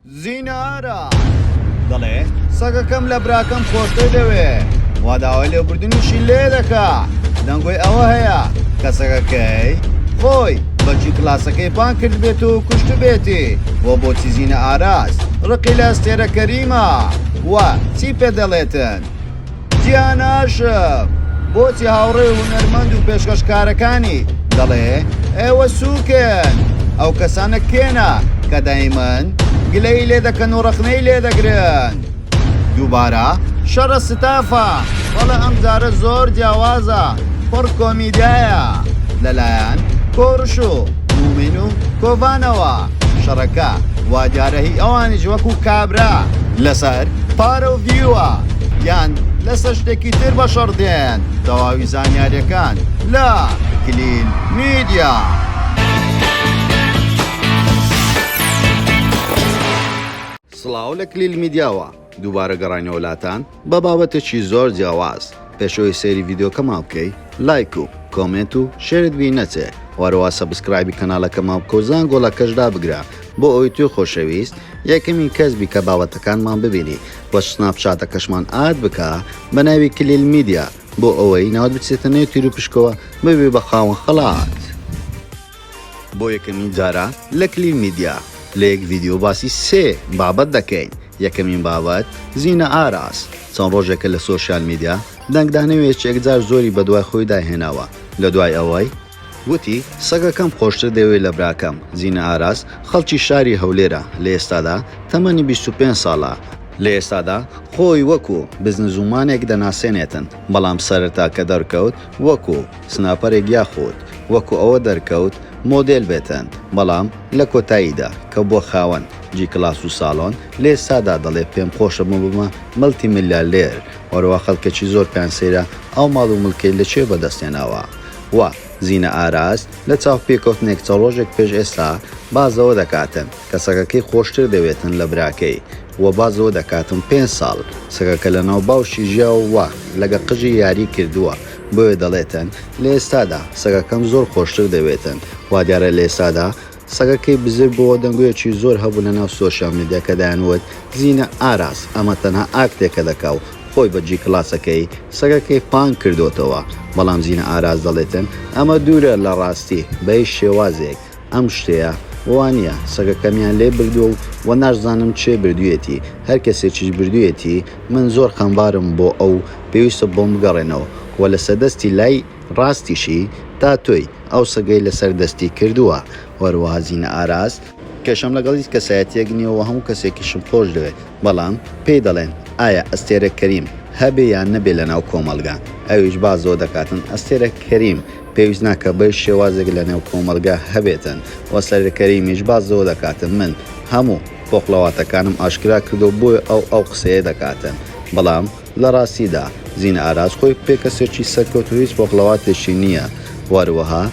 زینارا دەڵێ سەگەکەم لە براکەم خۆشتر دەوێ وا داوای لێبوردنیشی لێ دەکا دەنگۆی ئەوە هەیە کە سەگەکەی خۆی بەچی کلاسەکەی پان کرد بێت و کوشت بێتی بۆ بۆچی زینە ئاراست ڕقی لە ئەستێرە کەریمە وە چی پێ دەڵێتن تیاناش بۆچی هاوڕێ هونەرمەند و پێشکەشکارەکانی دەڵێ ئێوە سووکن ئەو کەسانە کێنا کە دایمەن گلەی لێ دەکەن و ڕخنەی لێ دەگرن دووبارە شەڕە ستافە بەڵە ئەم جارە زۆر جیاوازە پڕ کۆمیدایە لەلایەن کۆڕش و مومین و کۆڤانەوە شەڕەکە وادارە هی ئەوانیش وەکو کابرا لەسەر پارە و ڤیوە یان لەسەر شتێکی تر بەشەڕ دێن تەواوی زانیاریەکان لە کلین میدیا. سڵاو لە کلیل میدیاوە دووبارە گەڕانی وڵاتان بە بابەتێکی زۆر جیاواز پێشەوەی سەیری ڤیددیوکەمان بکەی لایک و کۆمنت و شێرت بی نەچێ وەرەوە سەبسکرایبی کەناڵەکەمان کۆزان گۆڵەکەشدا بگرە بۆ ئەوەی توی خۆشەویست یەکەمین کەس بی کە بابەتەکانمان ببینی و سناپ چاتەکەشمان ئاد بکە بە ناوی کلیل میدیا بۆ ئەوەی ناوت بچێتە نێو تیرو پشکۆوە ببی بە خاوەن خەڵات. بۆ یەکەمین جارە لە کلیل میدیا لە یەک ڤیدیۆ باسی سێ بابەت دەکەین یەکەمین بابەت زینە ئاراس چەند ڕۆژێکە لە سۆشیال میدیا دەنگدانەوێکی یەکجار زۆری بەدوای خۆیدا هێناوە لە دوای ئەوەی وتی، سەگەکەم خۆشتر دەوێ لە براکەم، زینە ئاراس، خەڵکی شاری هەولێرە، لە ئێستادا تەمەنی بیست و پێنج ساڵە، لە ئێستادا خۆی وەکو بزنزومانێک دەناسێنێتن، بەڵام سەرەتا کە دەرکەوت وەکو سناپەرێک یاخود وەکو ئەوە دەرکەوت مۆدێل بێتن، بەڵام لە کۆتاییدا کە بووە خاوەن جی کلاس و ساڵۆن، لە ئێستادا دەڵێ پێم خۆشە ببمە ملتی ملیاردێر، وەرەوە خەڵکەکی زۆر پێیان سەیرە ئەو ماڵ و ملکەی لە کوێ بەدەست هێناوە، و زینە ئاراس لە چاوپێکەوتنێک چە ڕۆژێک پێش ئێستا باس لەوە دەکاتن کە سەگەکەی خۆشتر دەوێتن لە براکەی و باس لەوە دەکاتن پێنج ساڵ سەگەکە لە ناو باوشی ژیاوە و لەگە قژی یاری کردووە بۆیە دەڵێتن لە ئێستادا سەگەکەم زۆر خۆشتر دەوێتن وادیارە لە ئێستادا سەگەکەی بزر بۆوە دەنگۆیەکی زۆر هەبوو لە ناو سۆشیال میدیا کە دەیانوت زینە ئاراس ئەمە تەنها ئاکتێکە دەکا و خۆی بە جی کلاسەکەی سەگەکەی پانک کردۆتەوە بەڵام زینە ئاراس دەڵێتن ئەمە دوورە لە ڕاستی بە هیچ شێوازێک ئەم شتەیە وانیە سەگەکەمیان لێ بردووە و وە ناشزانم کێ بردویەتی هەر کەسێکیش بردویەتی من زۆر خەمبارم بۆ ئەو پێویستە بۆم بگەڕێنەوە وە لەسەر دەستی لای ڕاستیشی تاتۆی ئەو سەگەی لەسەر دەستی کردووە وەرەوە زین ئاراس. کێشەم لەگەڵ هیچ کەسایەتیەک نیە و هەموو کەسێکیشم خۆش دەوێت بەڵام پێی دەڵێن ئایا ئەستێرە کەریم هەبێ یان نەبێ لەناو کۆمەڵگا ئەویش باس لەوە دەکاتن ئەستێرە کەریم پێویست ناکە بەهیچ شێوازێک لەنێو کۆمەڵگا هەبێتن و ئەستێرە کەریمیش باس لەوە دەکاتن من هەموو پۆخڵەواتەکانم ئاشکرا کردووە بۆیە ئەو ئەو قسەیە دەکاتن بەڵام لە ڕاستیدا زینا ئاراس خۆی پێکەسێکی سەرکەوت و هیچ پۆخڵەواتێکی نییە و هەروەها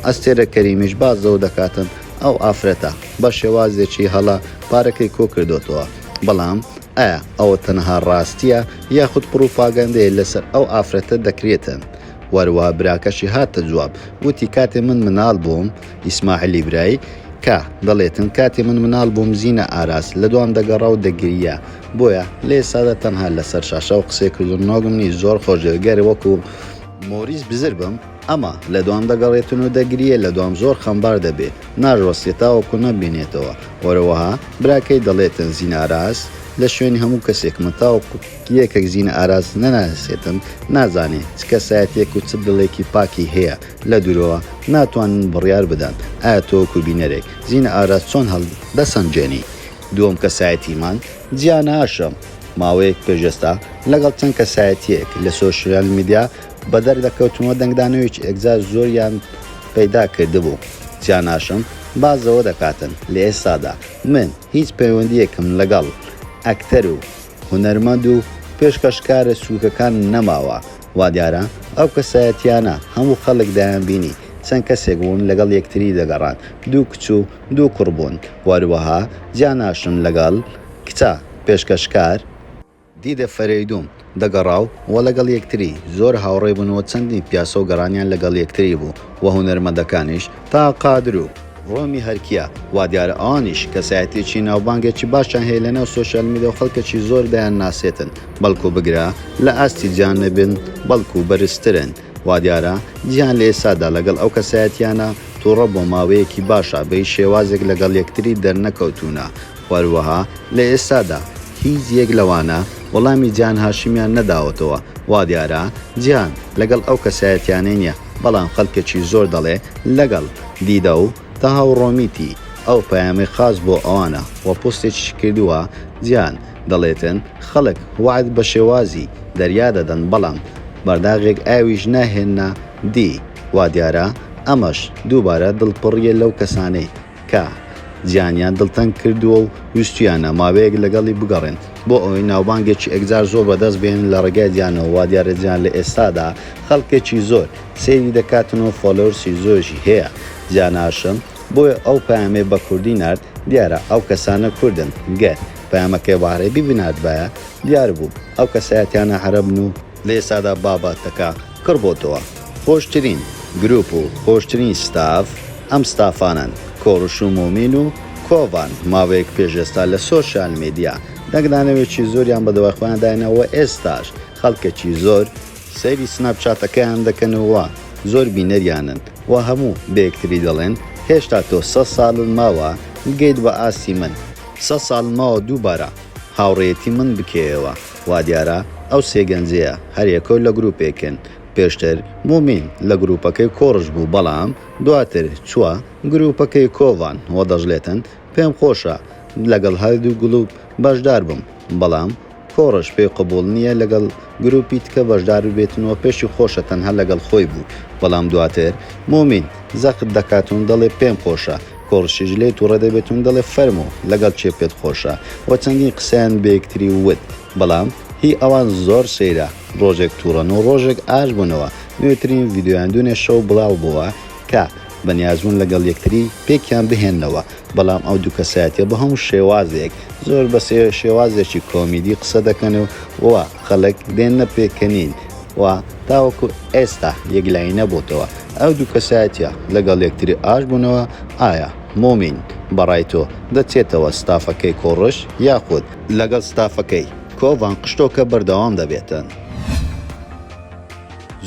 ئەستێرە کەریمیش باس لەوە دەکاتن ئەو ئافرەتە بە شێوازێکی هەڵە پارەکەی کۆکردۆتەوە بەڵام ئایا ئەوە تەنەها ڕاستییە یاخود پڕوپاگەندەیە لەسەر ئەو ئافرەتە دەکرێتن و هەروەها براکەشی هاتە جواب وتی کاتێ من مناڵ بووم ئیسماعیلی برای کا دەڵێتن کاتێ من مناڵ بووم زینا ئاراس لە دوام دەگەڕا و دەگریا بۆیە لە ئێستادا تەنها لەسەر شاشەوە قسەی کردن نۆگم نی زۆر خۆش دەوێت گەر وەکو مۆریس بزر بم ئەما لە دوام دەگەڕێتن و دەگریێ لە دوام زۆر خەمبار دەبێ ناژوەستێ تاوەکو نەمبینێتەوە وەرەوەها براکەی دەڵێتن زین ئاراس لە شوێنی هەموو کەسێکمە تاوەکو یەکەک زین ئاراس نەناسێتن نازانێ چ کەسایەتیەک و چ دڵێکی پاکی هەیە لە دوورەوە ناتوانن بڕیار بدەن ئایا تۆ وەکو بینەرێک زین ئاراس چۆن هەڵدەسەنجێنی دووەم کەسایەتیمان جیاناشە، ماوەیەک پێش ئێستا لەگەڵ چەند کەسایەتییەک لە سۆشیال میدیا بەدەر دەکەوتمەوە دەنگدانەوەیەکی ئێکجار زۆریان پەیدا کردبوو، جیاناشم باس لەوە دەکاتن لە ئێستادا من هیچ پەیوەندییەکم لەگەڵ ئەکتەر و هونەرمەند و پێشکەشکارە سووکەکان نەماوە، وادیارە ئەو کەسایەتییانە هەموو خەڵک دەیانبینی چەند کەسێک بوون لەگەڵ یەکتری دەگەڕان دوو کچ و دوو کوڕ بوون وەروەها جیاناشم لەگەڵ کچە پێشکەشکار، دیدە فەرەیدووم، دەگەڕا و وە لەگەڵ یەکتری زۆر هاوڕێ بوون وە چەندین پیاسە و گەڕانیان لەگەڵ یەکتری بوو وە هونەرمەندەکانیش تا قادر و. ڕۆمی هەرکیە وا دیارە ئەوانیش کەسایەتیەکی ناوبانگێکی باشیان هەیە لەناو سۆشیال میدیا و خەڵکێکی زۆر دەیان ناسێتن بەڵکو بگرە لە ئاستی جان نەبن بەڵکو بەرزترن وادیارە جیهان لە ئێستادا لەگەڵ ئەو کەسایەتییانە توڕە بۆ ماوەیەکی باشە بەهیچ شێوازێک لەگەڵ یەکتری دەرنەکەوتوونە و هەروەها لە ئێستادا هیچ یەک لەوانە وەڵامی جیهان هاشمیان نەداوەتەوە وادیارە جیهان لەگەڵ ئەو کەسایەتییانەی نییە بەڵام خەڵکێکی زۆر دەڵێ لەگەڵ دیدە و تەها و ڕۆمیتی ئەو پەیامەی خاس بۆ ئەوانە و پۆستێکیشی کردووە جیهان دەڵێتن خەڵک وەعد بە شێوازی دەریا دەدەن بەڵام بەرداغێک ئاویش ناهێننە دی، وادیارە ئەمەش دووبارە دڵپڕیە لەو کەسانەی کە جیانیان دڵتەنگ کردووە و ویستویانە ماوەیەک لەگەڵی بگەڕێن بۆ ئەوەی ناوبانگێکی ئێکجار زۆر بەدەست بهێنن لە ڕێگای جیانەوە، وادیارە جیان لە ئێستادا خەڵکێکی زۆر سەیری دەکاتن و فۆلۆرسی زۆریشی هەیە، جیان هاشم. بۆیە ئەو پەیامەی بە کوردی نارد، دیارە ئەو کەسانە کوردن، گەر پەیامەکەی بە عەرەبی بناردبایە، دیار بوو ئەو کەسایەتیانە عەرەبن و. لە ئێستادا بابەتەکە کڕ بۆتەوە، خۆشترین گروپ و خۆشترین ستاف ئەم ستافانەن، کۆڕش و مۆمین و کۆڤان ماوەیەک پێش ئێستا لە سۆشیال میدیا دەنگدانەوێکی زۆریان بە دوای خۆیان دایناوە و ئێستاش خەڵکێکی زۆر سەیری سناپ چاتەکەیان دەکەن و وا زۆر بینەریانن وا هەموو بە یەکتری دەڵێن هێشتا تۆ سەد سالن ماوە بگەیت بە ئاستی من، سەد سالن ماوە دووبارە هاوڕێیەتی من بکەیەوە، وا دیارە ئەو سێ گەنجەیە هەر یەکەو لە گروپێکن، پێشتر مومین لە گروپەکەی کۆڕش بوو بەڵام دواتر چووە گروپەکەی کۆڤان وە دەشڵێتن پێم خۆشە لەگەڵ هەردوو گڵوپ بەشدار بم بەڵام تۆڕش پێی قبوڵ نیە لەگەڵ گروپی تکە بەشدار ببێتن وە پێشی خۆشە تەنها لەگەڵ خۆی بوو بەڵام دواتر مومین زەخت دەکاتون دەڵێ پێم خۆشە تۆڕشیش لێی توڕە دەبێتون دەڵێ فەرموو لەگەڵ کێ پێت خۆشە وە چەندین قسەیان بەیەکتری ووت بەڵام هی ئەوان زۆر سەیرە ڕۆژێک توڕەن و ڕۆژێک ئاش بونەوە نوێترین ڤیدیۆیان دونێ شەو بڵاو بوە کە بەنیازبوون لەگەڵ یەکتری پێکیان بهێننەوە، بەڵام ئەو دوو کەسایەتیە بە هەموو شێوازێک زۆر بە شێوازێکی کۆمیدی قسە دەکەن و خەڵک دێننە پێکەنین و تاوەکو ئێستا یەکلایی نەبۆتەوە ئەو دوو کەسایەتیە لەگەڵ یەکتری ئاش بوونەوە، ئایا مۆمین بەڕای تۆ دەچێتەوە ستافەکەی کۆڕش یاخود. لەگەڵ ستافەکەی کۆڤان قشتۆکە بەردەوام دەبێتن؟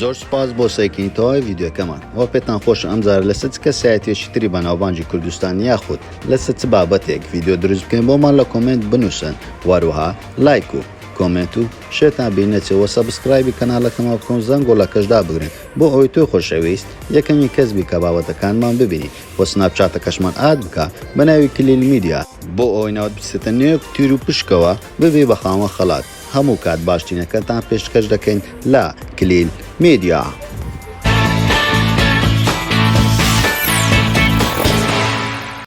زۆر سوپاس بۆ سەیرکردنی تەواوی ڤیدیۆکەمان وە پێتان خۆش ئەم جارە لەسەر چ کەسایەتیەکی تری بەناوبانگی کوردستان یاخود لەسەر چ بابەتێک ڤیدیۆ دروست بکەین بۆمان لە کۆمێنت بنووسن وەروەها لایک و کۆمێنت و شێتان بیر نەچێت وە سەبسکرایبی کەناڵەکەمان بکەن و زەنگ گۆڵەکەش دابگرن بۆ ئەوەی تۆی خۆشەویست یەکەمین کەس بی کە بابەتەکانمان ببینی وە سناپچاتەکەشمان ئاد بکە بە ناوی کلیل میدیا بۆ ئەوەی ناوت بچێتە نێو تیروپشکەوە ببی بە خاوەن خەڵات. هەموو کات باشتینەکەتان پێشکەش دەکەین لە کلیل میدیا.